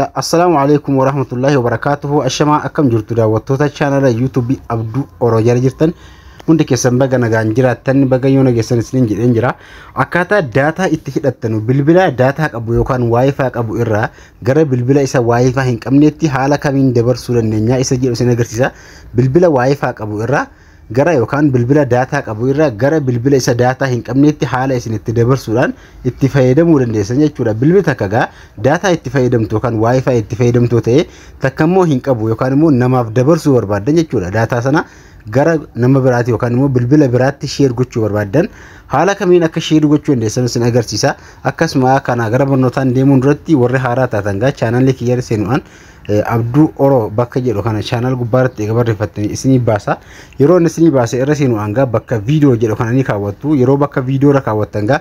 Assalaamu alaikum warahmatullahi wabarakatuhu Ashamaa akkam jirtu daawwattoota chaanala yuutuubii Abduu Oroo jala jirtan hundi keessan baga nagaan jiraattan baga yoo nageessan isiniin jedheen jira akkaataa daataa itti hidhattanu bilbila daataa qabu yookaan waayifaa qabu irraa gara bilbila isa waayifaa hin qabneetti haala kamiin dabarsuu dandeenya isa jedhu isin agarsiisa bilbila waayifaa qabu irraa gara yookaan bilbila daataa qabu irraa gara bilbila isa daataa hin qabneetti haala isin itti dabarsuudhaan itti fayyadamuu dandeessan jechuudha. Bilbili takka gaa daataa itti fayyadamtu yookaan waayifaayi itti fayyadamtu ta'ee takka immoo hin qabu yookaan immoo namaaf dabarsuu barbaaddan jechuudha. Daataa sana gara nama biraati yookaan immoo bilbila biraatti sheer gochuu barbaaddan haala kamiin akka sheer gochuu dandeessan isin agarsiisa. Akkasuma kana gara barnootaan deemuun duratti warri haaraa taatan gaa chaanaalii kiyya seenuudhaan Abduu Oro bakka jedhu kana channel gubbaa irratti eega barreeffattanii isinii baasa. Yeroo inni isinii baase irra seenu hangaa bakka viidiyoo jedhu kana ni kaawwattu. Yeroo bakka viidiyoo irra kaawwattan gaa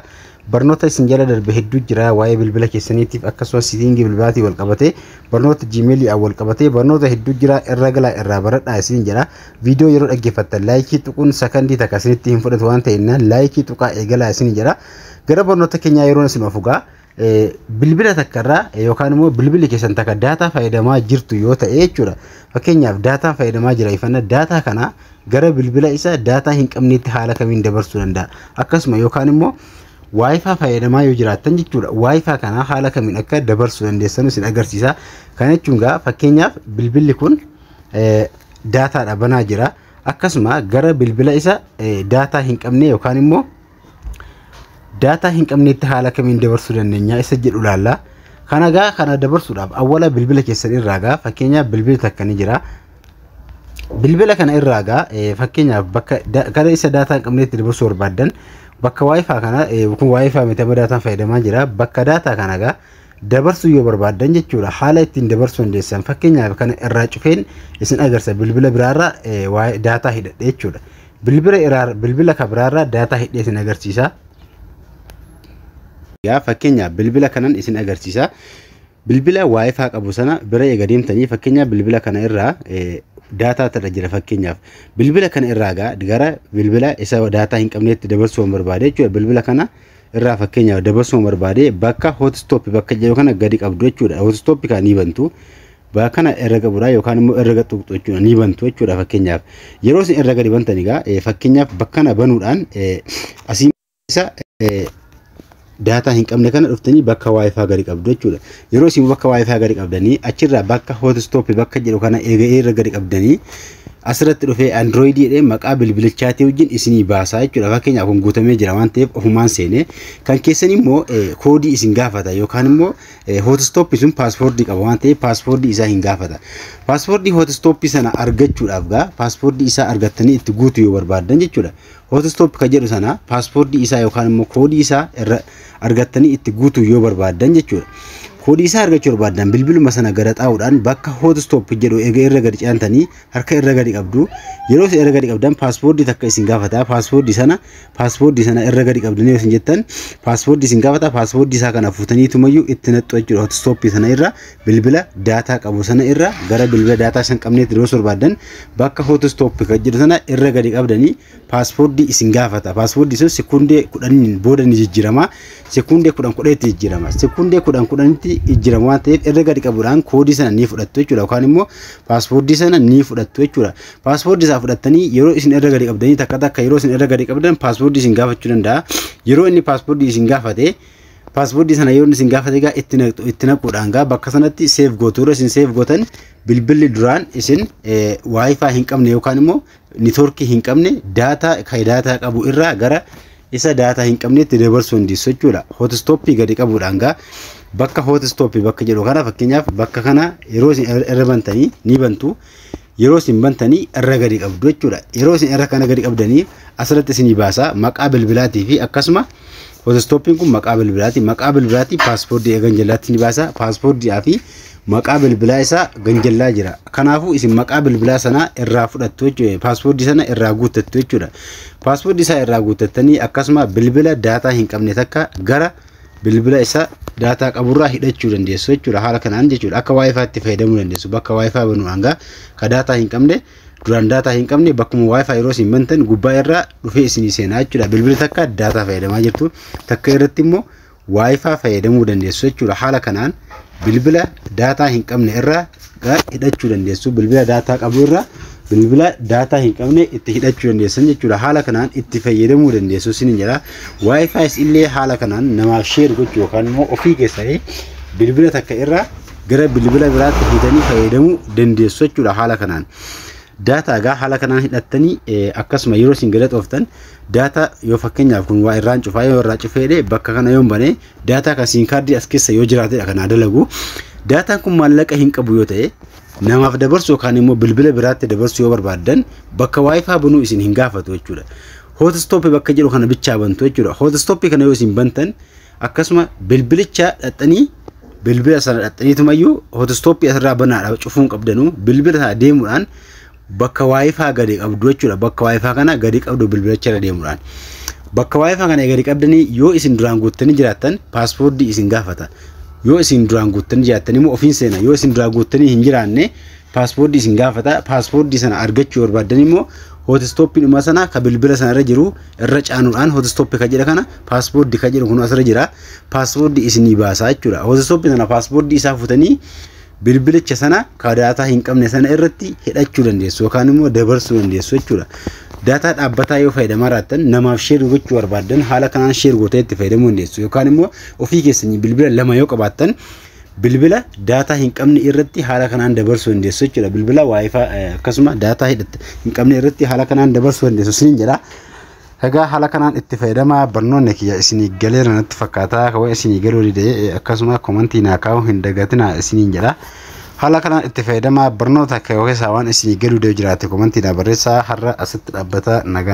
barnoota isin jala darbe hedduu jira waa'ee bilbila keessaniitiif akkasumas siitiingii bilbilaatiin wal qabatee barnoota jiimeelii wal qabatee barnoota hedduu jira irra galaa irraa baradhaa isin jedha. Viidiyoo yeroo dhaggeeffattan laayikii tuquun sakandii takka isinitti hin fudhatu waan ta'eef laayikii tuqaa eegalaa isin jedha. Gara barnoota keenyaa yeroo isin ofugaa bilbila takka irraa yookaan immoo bilbili keessan takka daataa fayyadamaa jirtu yoo ta'e jechuudha. Fakkeenyaaf daataa fayyadamaa jira ifanna daataa kana gara bilbila isa daataa hin qabneetti haala kamiin dabarsuu danda'a. Akkasuma yookaan immoo waayifaa fayyadamaa yoo jiraattan jechuudha. Waayifaa kana haala kamiin akka dabarsuu dandeessan isin agarsiisa. Kana jechuun gaa fakkeenyaaf bilbilli kun daataadha banaa jira. Akkasuma gara bilbila isa daataa hin qabne yookaan immoo daataa hin qabneetti haala kamiin dabarsuu dandeenya isa jedhu ilaalla. Kana gaa kana dabarsuudhaaf awwala bilbila keessan irraa gaa fakkeenyaaf bilbila takka ni jira. Bilbila kana irraa gaa fakkeenyaaf bakka gara isa daataa hin qabneetti dabarsuu barbaaddan bakka waayifaa kana kun waayifaa miti amma daataan fayyadamaa jira bakka daataa kana gaa dabarsuu yoo barbaaddan jechuudha haala ittiin dabarsuu dandeessan fakkeenyaaf kana irraa cufeen isin agarsa bilbila biraarraa waa'ee daataa hidhadhe jechuudha. Bilbila iraa bilbila ka biraarraa daataa hidhee isin agarsiisa. Yaa fakkeenyaaf bilbila kanan isin agarsiisa. Bilbila waayifaa qabu sana bira eega deemtanii fakkeenyaaf bilbila kana irraa daataa tadha jira fakkeenyaaf. Bilbila kana irraa gaa gara bilbila isa daataa hin qabneetti dabarsuu barbaade jechuudha. Bilbila kana irraa fakkeenyaaf dabarsuu barbaade bakka hotstop bakka jedhu kana gadi qabdu jechuudha. Hotstop kan ni bantu. Baa kana herrega buraa yookaan immoo herrega tuqxu jechuudha ni bantu jechuudha fakkeenyaaf yeroo isin herrega dibantan egaa eh, fakkeenyaaf bakka kana banuudhaan eh, asii keessa eh, daataa hin qabne kana dhuftanii bakka waayifaa gadi qabdu jechuudha yeroo isin bakka waayifaa gadi qabdanii achirraa bakka hotstop bakka jedhu kana eega irra gadi qabdanii asirratti dhufee android jedhee maqaa bilbilichaatii wajjin isinii baasaa jechuudha fakkeenyaaf kun guutamee jira waan ta'eef ofumaan seenee kan keessan immoo eh, koodii isin gaafata yookaan immoo Hootistooppii sun paaspoortii qaba waan ta'eef paaspoortii isaa hin gaafata. Paaspoortii hootistooppii sana argachuudhaaf gaa paaspoortii isaa argattanii itti guutuu yoo barbaaddan jechuudha. Hootistooppi kan jedhu sana paaspoortii isaa yookaan immoo koodii isaa irra argattanii itti guutuu yoo barbaaddan jechuudha. Koodii isaa argachuu barbaaddan bilbiluma sana gara xaa'uudhaan bakka hootistooppi jedhu eega irra gadi ce'antanii harka irra gadi qabdu. Yeroo irra gadi qabdan paaspoortii takka isin gaafata. Paaspoortii sana paaspoortii sana irra gadi qabdanii yoo isin jettan paaspoortii isin gaafata paaspoortii isaa kana fuutanii tumayyuu itti naxxu jechuudha hootistooppii sana irra bilbila daataa qabu sana irra gara bilbila daataa isin qabneetti yoo barbaaddan bakka hootistooppii kan jedhu sana irra gadi qabdanii paaspoortii isin gaafata paaspoortii sun sekundee kudhaniin booda ni jijjiirama sekundee kudhan kudhanitti jijjiirama sekundee kudhan kudhanitti jijjiirama waan ta'eef irra gadi qabuudhaan koodii sana ni fudhattu jechuudha yookaan immoo paaspoortii sana ni fudhattu jechuudha Paaspoortii isaa fudhattanii yeroo isin irra gadi qabdanii takka takka yeroo isin irra gadi qabdan paaspoortii isin gaafachuu danda'a. Yeroo inni paaspoortii isin gaafate paaspoortii sana yeroo isin gaafate gaa itti naqxu itti naquudhaan gaa bakka sanatti seef gootu irra isin seef gootan bilbilli duraan isin waayifaa hin qabne yookaan immoo niitoorkii hin qabne daataa kan daataa qabu irraa gara isa daataa hin qabnetti dabarsuu dandeessu jechuudha. Hootistooppii gadi qabuudhaan gaa bakka hootistooppii bakka jedhu kana fakkeenyaaf bakka kana yeroo isin irra bantanii ni bantu. yeroo isin bantanii irra gadi qabdu jechuudha. Yeroo isin irra kana gadi qabdanii asirratti isinii baasa maqaa bilbilaatii fi akkasuma fotostooppiin kun maqaa bilbilaati. Maqaa bilbilaatii paaspoortii eegan jallaatti ni baasa. Paaspoortii fi maqaa bilbilaa isaa ganjallaa jira. Kanaafuu isin maqaa bilbilaa sanaa irraa fudhattu jechuudha. Paaspoortii sana irraa guuttattu jechuudha. Paaspoortii isaa irraa guuttattanii akkasuma bilbila daataa hin qabne takka gara bilbila isa daataa qaburraa hidhachuu dandeessu jechuudha haala kanaan jechuudha akka wifi itti fayyadamuu dandeessu bakka wifi banuu hangaa ka daataa hin qabne duraan daataa hin qabne bakkuma wifi yeroo isin bantan gubbaa irraa dhufee isinii seenaa jechuudha bilbila takka daataa fayyadamaa jirtu takka irratti immoo wifi fayyadamuu dandeessu jechuudha haala kanaan bilbila daataa hin qabne irraa hidhachuu dandeessu bilbila daataa qabu irraa bilbila daataa hin qabne itti hidhachuu dandeessan jechuudha haala kanaan itti fayyadamuu dandeessu isin jedha waayifaayiis illee haala kanaan namaaf sheer gochuu yookaan immoo ofii keessanii bilbila takka irraa gara bilbila biraatti hidhanii fayyadamuu dandeessu jechuudha haala kanaan. Daataa egaa haala kanaan hidhattanii akkasuma yeroo isin galaxooftan daataa yoo fakkeenyaaf kun waa irraan cufaa yoo irraa cufeedhe bakka kana yoo hin banee Daataa kan siin kaardii as keessa yoo jiraatedha kan haa dalagu. Daataan kun maallaqa hin qabu yoo ta'e namaaf dabarsu yookaan immoo bilbila biraatti dabarsu yoo barbaaddan bakka waayifaa banuu isin hin gaafatu jechuudha. Hootistooppii bakka jedhu kana bichaa bantu jechuudha. Hootistooppii kana yoo isin bantan akkasuma bilbilicha dhaxxanii bilbila sana dhaxxaniitumayyuu hootistooppii asirraa banaadha cufuun qabdanu bilbila sana deemuudhaan bakka waayifaa gadi qabdu jechuudha. Bakka waayifaa kana gadi qabdu bilbilacha irra deemuudhaan. Bakka waayifaa kana gadi qabdanii yoo isin duraan guuttanii jiraattan paaspoortii isin gaafata. Yoo isin duraan guuttanii jiraattan immoo ofiin seena. Yoo isin duraan guuttanii hin jiraanne paaspoortii isin gaafata. Paaspoortii sana argachuu barbaaddan immoo hootistooppii dhuma sana ka bilbila sana irra jiru irra caanuudhaan hootistooppii ka jedha kana paaspoortii ka jedhu kun asirra jira. Paaspoortii isinii baasaa jechuudha. Hootistooppii sana paaspoortii isaa fuutanii bilbilicha sana ka daataa hin qabne sana irratti hidhachuu dandeessu yookaan immoo dabarsuu dandeessu jechuudha. Daataa dhaabbataa yoo fayyadamaa jiraattan namaaf sheer gochuu barbaaddan haala kanaan sheer gootee itti fayyadamuu dandeessu yookaan immoo ofii keessanii bilbila lama yoo qabaattan bilbila daataa hin qabne irratti haala kanaan dabarsuu dandeessu jechuudha. Bilbila waayifaa akkasuma daataa hin qabne irratti haala kanaan dabarsuu dandeessu siin jedha. Egaa haala kanaan itti fayyadamaa barnoonni kiyya isinii galeera natti fakkaata kawwan isinii galuu dide akkasuma komantii naa kaa'uu hin dagatinaa isiniin jedha haala kanaan itti fayyadamaa barnoota keessaa waan isinii galuu dide jiraate komantii naa barreessaa har'a asitti dhaabbata nagaa